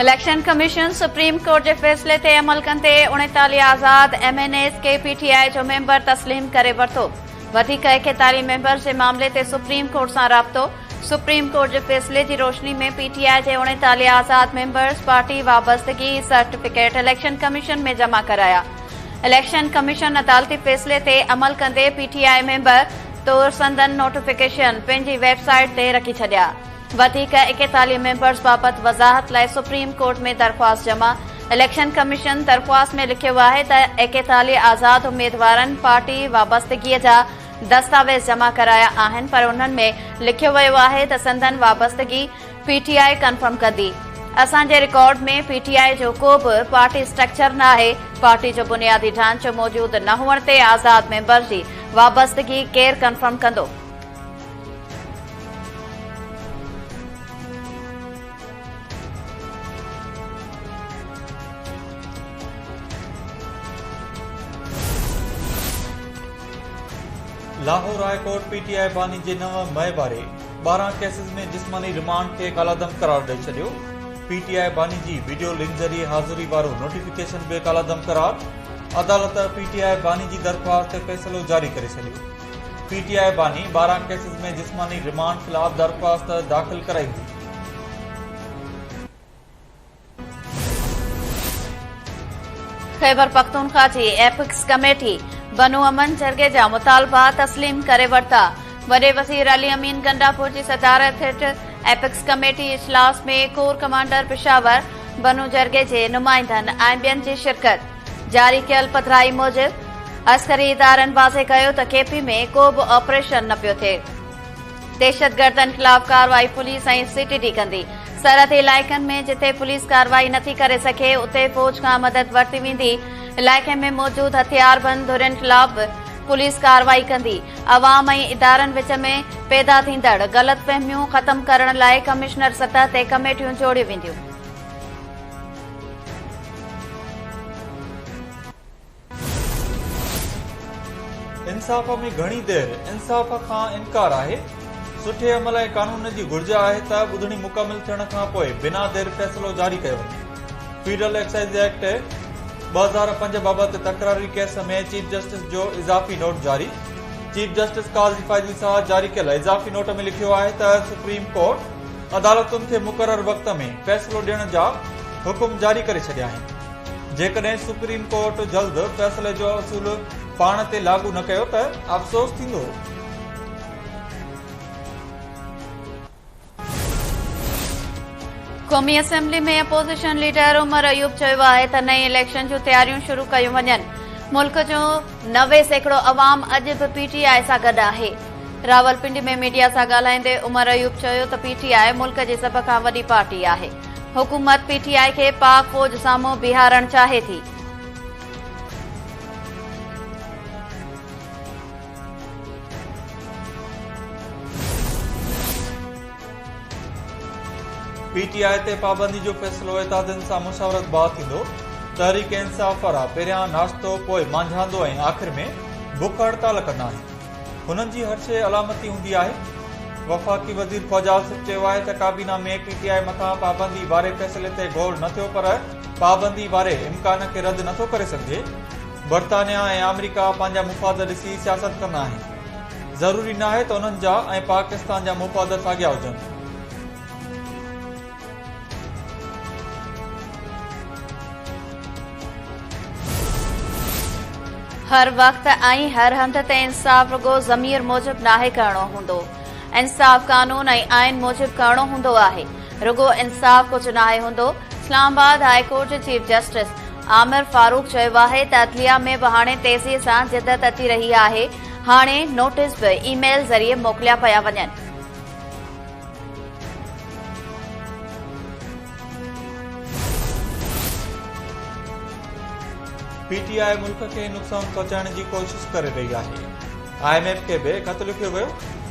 Election commission supreme court جي فيصلي تي عمل ڪندي اڻيتاليهه آزاد ايم اين ايز کي پي ٽي آء جو ميمبر تسليم ڪري ورتو وڌيڪ ايڪيتاليهه ميمبرز جي معاملي تي سپريم ڪورٽ سان رابطو سپريم ڪورٽ جي فيصلي جي روشني ۾ پي ٽي آء جي اڻيتاليهه آزاد ميمبرز پارٽي وابستگي سرٽيفڪيٽ اليڪشن ڪميشن ۾ جمع ڪرايا اليڪشن ڪميشن عدالتي فيصلي تي عمل ڪندي پي ٽي آء ميمبر طور سندن نوٽيفڪيشن پنهنجي ويب سائيٽ تي رکي ڇڏيا. وڌيڪ ايڪيتاليهه ميمبرز بابت وضاحت لاء سپريم ڪورٽ ۾ درخواست جمع، اليڪشن ڪميشن درخواست ۾ لکيو آهي ته ايڪيتاليهه آزاد اميدوارن پارٽي وابستگيء جا دستاويز جمع ڪرايا آهن پر انهن ۾ لکيو ويو آهي ته سندن وابستگي پي ٽي آء ڪنفرم ڪندي. اسان جي رڪارڊ ۾ پي ٽي آء جو ڪو به پارٽي اسٽرڪچر ناهي، پارٽي جو بنيادي ڍانچو موجود نه هئڻ تي آزاد ميمبر جي وابستگي ڪير ڪنفرم ڪندو؟ Lahore high court P T I باني جي نو مئي واري ٻارهن ڪيسز ۾ جسماني ريمانڊ کي ڪالعدم قرار ڏئي ڇڏيو، پي ٽي آء باني جي ويڊيو لنڪ ذريعي حاضري وارو نوٽيفڪيشن به ڪالعدم قرار، عدالت پي ٽي آء باني جي درخواست تي فيصلو جاري ڪري ڇڏيو، پي ٽي آء باني ٻارهن ڪيسز ۾ جسماني ريمانڊ خلاف درخواست داخل ڪرائي هئي. خيبرپختونخوا جي ايپڪس ڪميٽي بنو امن جرڳي جا مطالبا تسليم ڪري ورتا، وڏي وزير علي امين گنڊاپور جي صدارت هيٺ ايپڪس ڪميٽي اجلاس ۾ ڪور ڪمانڊر پشاور، بنو جرڳي جي نمائندن ۽ ٻين جي شرڪت، جاري ڪيل پڌرائي موجب عسڪري ادارن واضح ڪيو ته ڪي پي ۾ ڪو به آپريشن نه پيو ٿئي. دهشتگردن خلاف ڪارروائي پوليس ۽ سي ٽي ڊي ڪندي، سرحدي علائقن ۾ جتي پوليس ڪارروائي نٿي ڪري سگهي اتي فوج کان مدد ورتي ويندي، علائقي ۾ موجود هٿياربند ڌرين خلاف به پوليس ڪارروائي ڪندي، عوام ۽ ادارن وچ ۾ پيدا ٿيندڙ غلط فهميون ختم ڪرڻ لاء ڪمشنر سطح تي ڪميٽيون جوڙيون وينديون. انصاف ۾ گهڻي دير انصاف کان انڪار آهي، سٺي عمل ۽ قانون جي گهرج آهي ته ٻڌڻي مڪمل ٿيڻ کان پوء بنا دير فيصلو جاري ڪيو وڃي، فيڊرل ايڪسائيز ايڪٽ ٻه هزار پنج بابت تڪراري ڪيس ۾ چيف جسٽس جو اضافي نوٽ جاري، چيف جسٽس قاضي فائزي ساهه جاري ڪيل اضافي نوٽ ۾ لکيو آهي ته سپريم ڪورٽ عدالتن کي مقرر وقت ۾ فيصلو ڏيڻ جا حڪم جاري ڪري ڇڏيا آهن. جيڪڏهن سپريم ڪورٽ جلد فيصلي جو اصول پاڻ تي لاڳو نه ڪيو ته افسوس ٿيندو. قومي assembly ۾ opposition leader Omar Ayub چيو آهي ته نئين اليڪشن جون تياريون شروع ڪيون وڃن، ملڪ جو نوي سيڪڙو عوام اڄ به پي ٽي آء سان گڏ آهي. راولپنڊي ۾ ميڊيا سان ڳالهائيندي عمر ايوب چيو ته پي ٽي آء ملڪ جي سڀ کان وڏي پارٽي آهي. حڪومت پي ٽي آء کي پاڪ فوج سان منهن بيهارڻ چاهي ٿي. پي ٽي آء تي پابندي جو فيصلو اتحادين سان مشاورت بعد ٿيندو، تحريڪ انصاف وارا پهريان ناشتو پوء مانجهاندو ۽ آخر ۾ بک هڙتال ڪنداهين. هنن جي هر شيء علامتي هوندي آهي. وفاقي وزير خواجه آصف چيو آهي ته ڪابينا ۾ پي ٽي آء مٿان پابندي واري فيصلي تي غور نه ٿيو پر پابندي واري امڪان کي رد نٿو ڪري سگهجي. برطانيا ۽ آمريڪا پنهنجا مفاد ڏسي سياست ڪندا آهن. ضروري ناهي ته انهن جا ۽ پاڪستان جا مفاد ساڳيا هجن. هر وقت ۽ هر هنڌ تي انصاف رڳو ضمير موجب ناهي ڪرڻو هوندو. انصاف قانون ۽ آئين موجب ڪرڻو هوندو آهي. رڳو انصاف ڪجهه ناهي هوندو. اسلام آباد هاء ڪورٽ جي چيف جسٽس عامر فاروق چيو آهي ته عدليه ۾ به هاڻي تيزي سان جدت اچي رهي آهي، هاڻي نوٽيس به اي ميل ذريعي موڪليا پيا وڃن. پي ٽي آء ملڪ کي نقصان پهچائڻ جي ڪوشش ڪري رهي آهي، آء ايم ايف کي به خط لکيو ويو،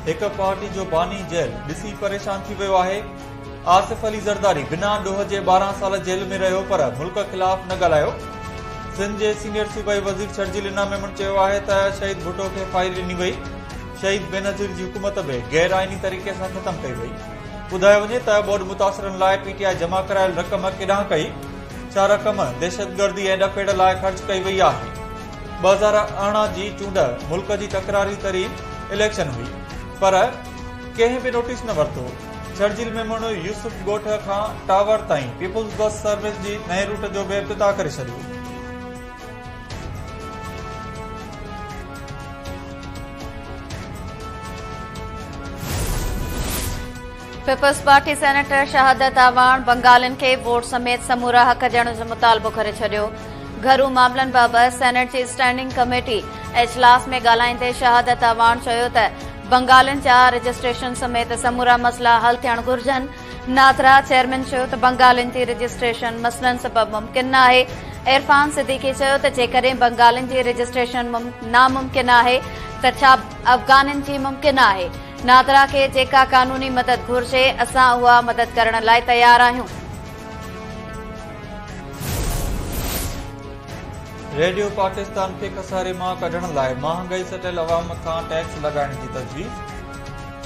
هڪ پارٽي جو باني جيل ڏسي پريشان ٿي ويو آهي، آصف علي زرداري بنا ڏوهه جي ٻارهن سال جيل ۾ رهيو پر ملڪ خلاف نه ڳالهايو، سنڌ جي سينيئر صوبائي وزير شرجيل انعام ميمڻ چيو آهي ته شهيد ڀٽو کي فائل ڏني وئي، شهيد بينظير جي حڪومت به غير آئيني طريقي سان ختم ڪئي وئي، ٻڌايو وڃي ته ٻوڏ متاثرن لاء پي ٽي آء جمع ڪرايل رقم ڪيڏانهن ڪئي، ڇا رقم دهشتگردي ۽ ڏڦيڙ لاء خرچ ڪئي وئي آهي؟ ٻه هزار ارڙهن جي چونڊ ملڪ جي تڪراري ترين اليڪشن هئي پر ڪنهن به نوٽيس نه ورتو، ڇڙجيل ميمڻ يوسف ڳوٺ کان ٽاور تائين پيپلز بس سروس جي نئين روٽ جو به افتتاح ڪري ڇڏيو. پيپلزپارٽي سينيٽر شهادت اعواڻ بنگالين کي ووٽ سميت سمورا حق ڏيڻ جو مطالبو ڪري ڇڏيو گهرو معاملن بابت سينيٽ جي اسٽينڊنگ ڪميٽي اجلاس ۾ ڳالهائيندي شهادت اعواڻ چيو ته بنگالين جا رجسٽريشن سميت سمورا مسئلا حل ٿيڻ گهرجن ناٿرا چيئرمين چيو ته بنگالين جي رجسٽريشن مسئلن سبب ممڪن نه آهي، عرفان صديقي چيو ته جيڪڏهن بنگالين جي رجسٽريشن ناممڪن آهي ته ڇا افغانين جي ممڪن آهي، ناٿرا کي جيڪا قانوني مدد گهرجي اسان اها مدد ڪرڻ لاء تيار آهيون. ريڊيو پاڪستان کي خساري مان ڪڍڻ لاء مهانگائي سٽيل عوام کان ٽيڪس لڳائڻ جي تجويز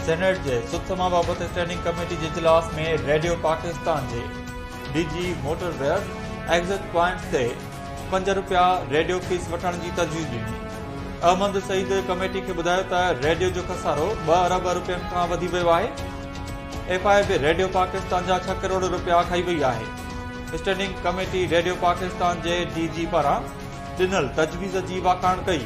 سينيٽ جي سٿما بابت اسٽينڊنگ ڪميٽي جي اجلاس ۾ ريڊيو پاڪستان جي D G motorways exit points تي پنج رپيا ريڊيو فيس وٺڻ جي تجويز ڏني احمد سعيد ڪميٽي کي ٻڌايو ته ريڊيو جو خسارو ٻه ارب رپين کان وڌي ويو آهي F I B radio Pakistan جا ڇهه ڪروڙ رپيا کائي وئي آهي اسٽينڊنگ ڪميٽي ريڊيو پاڪستان جي ڊي جي پاران ڏنل تجويز جي واکاڻ ڪئي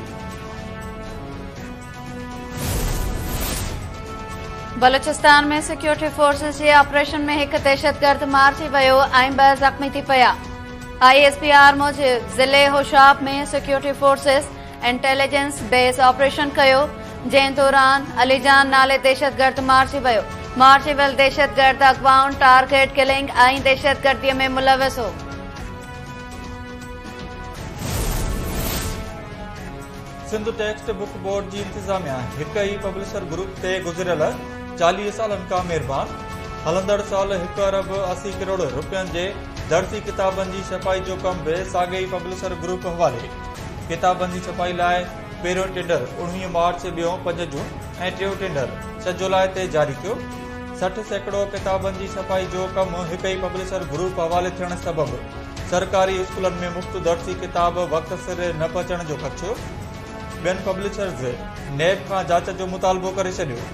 بلوچستان ۾ سيڪيورٽي فورسز جي آپريشن ۾ هڪ دهشتگرد مارجي ويو ۽ ٻه زخمي ٿي پيا آء ايس پي آر موجب ضلعي Hoshab ۾ security forces intelligence base operation ڪيو جنهن دوران علي جان نالي دهشتگرد مارجي ويو مارجي ويل دهشتگرد اغوائن ٽارگيٽ ڪلنگ ۽ دهشتگردي ۾ ملوث هو سنڌ ٽيڪسٽ بڪ بورڊ جي انتظاميا هڪ ئي پبلشر گروپ تي گذريل چاليهه سالن کان مهربان هلندڙ سال هڪ ارب اسي ڪروڙ روپين جي درسي ڪتابن جي ڇپائي جو ڪم به ساڳئي ئي پبلشر گروپ حوالي ڪتابن جي ڇپائي لاء پهريون ٽينڊر اوڻويهه مارچ ٻيون پنج جون ۽ ٽيون ٽينڊر ڇهه جولاء تي جاري ٿيو سٺ سيڪڙو ڪتابن جي ڇپائي جو ڪم هڪ ئي پبلشر گروپ حوالي ٿيڻ سبب سرڪاري اسڪولن ۾ مفت درسي ڪتاب وقت سر نه پهچڻ جو خدشو، ٻين پبلشرز نيب کان جاچ جو مطالبو ڪري ڇڏيو.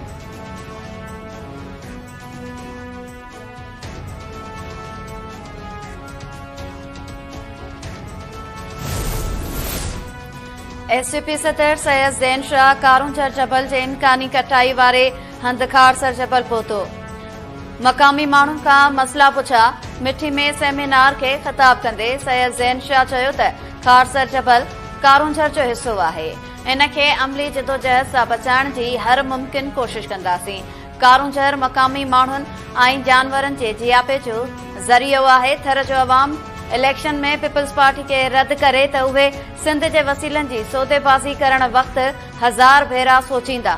ايس ٽي پي صدر سيد زين شاهه ڪارونجهر جبل جي امڪاني ڪٽائي واري هنڌ خارسر جبل پهتو، مقامي ماڻهن کان مسئلا پڇيا، مٺي ۾ سيمينار کي خطاب ڪندي سيد زين شاهه چيو ته خارسر جبل ڪارونجهر جو حصو آهي، ان کي عملي جدوجهد سان بچائڻ جي هر ممڪن ڪوشش ڪنداسين، ڪارونجهر مقامي ماڻهن ۽ جانورن جي جياپي جو ذريعو آهي، ٿر جو عوام اليڪشن ۾ پيپلزپارٽي کي رد ڪري ته اهي سنڌ جي وسيلن جي سوديبازي ڪرڻ وقت هزار ڀيرا سوچيندا.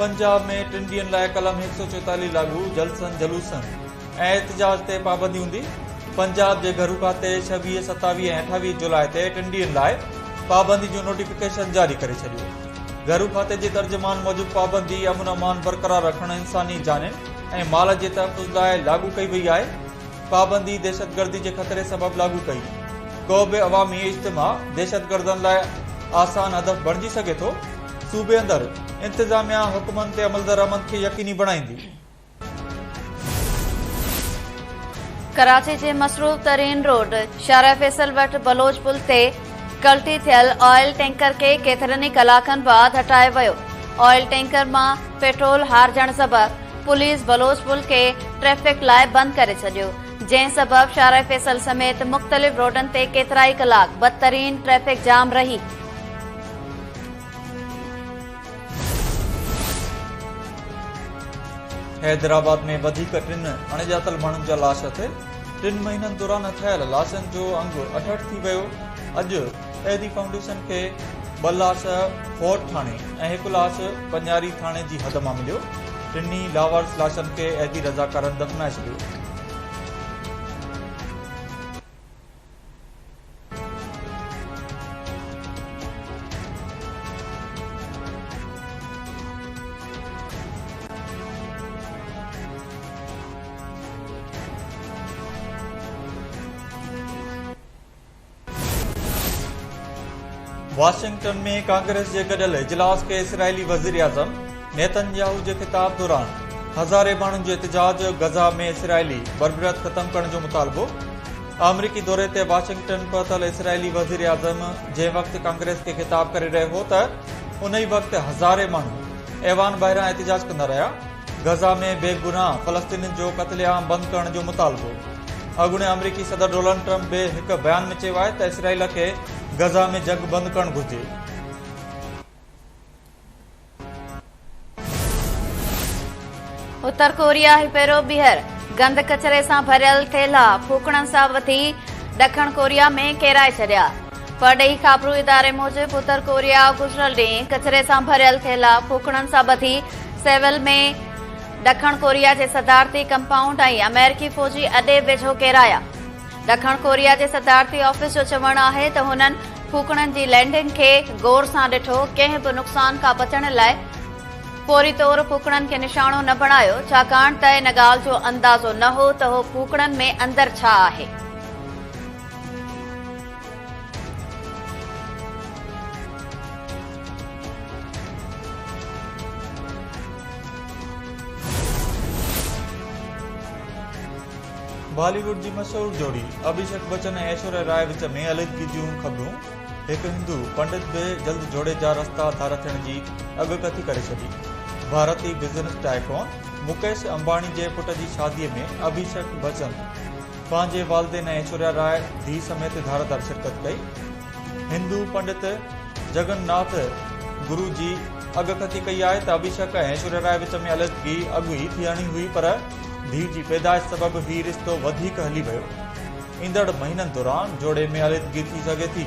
پنجاب ۾ ٽن ڏينهن لاء قلم هڪ سؤ چوتاليهه لاڳو، جلسن جلوسن ۽ احتجاج تي پابندي هوندي، پنجاب جي گهرو کاتي ڇويهه، ستاويهه ۽ اٺاويهه جولاء تي ٽن ڏينهن لاء پابندي جو نوٽيفڪيشن جاري ڪري ڇڏيو. گهرو کاتي جي ترجمان موجب پابندي امن امان برقرار رکڻ انساني جانين ۽ مال جي تحفظ لاء لاڳو ڪئي وئي آهي پابندي دهشتگردي جي خطري سبب لاڳو ڪئي ڪو به عوامي اجتماع دهشتگردن لاء آسان هدف بڻجي سگهي ٿو صوبي اندر انتظاميا حڪمن تي عملدرآمد کي يقيني بڻائيندي ڪراچي جي مصروف ترين روڊ شارع فيصل وٽ بلوچ پل تي ڪلٽي ٿيل آئل ٽينڪر کي ڪيترن ئي ڪلاڪن بعد هٽايو ويو آئل ٽينڪر مان پيٽرول هارجڻ سبب پوليس بلوچ پل کي ٽريفڪ لاء بند ڪري ڇڏيو جنهن سبب شارع فيصل سميت مختلف روڊن تي ڪيترائي ڪلاڪ بدترين ٽريفڪ جام رهي حيدرآباد ۾ وڌيڪ ٽن اڻڄاتل ماڻهن جا لاش اٿي، ٽن مهينن دوران اٿايل لاشن جو انگ اٺهٺ ٿي ويو، اڄ احدي فائونڊيشن کي ٻه لاش فوت ٿاڻي ۽ هڪ لاش پڃاري ٿاڻي جي حد مان مليو، ٽنهي لاوارث لاشن کي احدي رضاڪارن دفنائي ڇڏيو. واشنگٽن ۾ ڪانگريس جي گڏيل اجلاس کي اسرائيلي وزيراعظم نيتن ياهو جي خطاب دوران هزارين ماڻهن جو احتجاج، غزه ۾ اسرائيلي بربريت ختم ڪرڻ جو مطالبو. آمريڪي دوري تي واشنگٽن پهتل اسرائيلي وزيراعظم جنهن وقت ڪانگريس کي خطاب ڪري رهيو هو ته ان ئي وقت هزارين ماڻهو ايوان ٻاهران احتجاج ڪندا رهيا غزا ۾ بي گناهه فلسطينين جو قتل عام بند ڪرڻ جو مطالبو اڳوڻي آمريڪي صدر ڊونلڊ ٽرمپ به هڪ بيان ۾ چيو آهي ته اسرائيل کي غزا ۾ جنگ بند ڪرڻ گهرجي اتر ڪوريا هيپيرو ٻيهر گند ڪچري سان ڀريل ٿيلها ڦوڪڻن سان وٿي ڏکڻ ڪوريا ۾ ڪيرائي ڇڏيا پرڏيهي خابرو اداري موجب اتر ڪوريا گذريل ڏينهن ڪچري سان ڀريل ٿيلها ڦوڪڻن سان ٻڌي سيول ۾ ڏکڻ ڪوريا جي صدارتي ڪمپائونڊ ۽ آمريڪي فوجي اڏي ويجهو ڪيرايا ڏکڻ ڪوريا جي صدارتي آفيس جو چوڻ آهي ته هنن ڦوڪڻن جي لينڊنگ کي غور سان ڏٺو، ڪنهن به نقصان کان بچڻ لاء فوري طور ڦوڪڻن کي نشانو نه بڻايو، ڇاڪاڻ ته ان ڳالهه جو اندازو نه هو ته هو ڦوڪڻن ۾ اندر ڇا آهي. بالي ووڊ جي مشهور جوڙي اڀيشڪ بچن ۽ ايشوريا راء وچ ۾ علحدگي جون خبرون، هڪ هندو پنڊت به جلد جوڙي جا رستا ڌار ٿيڻ جي اڳڪٿي ڪري ڇڏي، ڀارتي بزنس ٽائيڪون مڪيش امباڻي جي پٽ جي شادي ۾ اڀيشڪ بچن پنهنجي والدين ۽ ايشوريا راء ڌيء سميت ڌار ڌار شرڪت ڪئي، هندو پنڊت جگن ناٿ گرو جي اڳڪٿي ڪئي آهي ته ابهيشڪ ۽ ايشوريا راء وچ ۾ علحدگي اڳ ئي ٿيڻي هئي پر ڌيء جي پيدائش سبب هي رشتو وڌيڪ هلي ويو. ايندڙ مهينن دوران جوڙي ۾ علحدگي ٿي سگهي ٿي.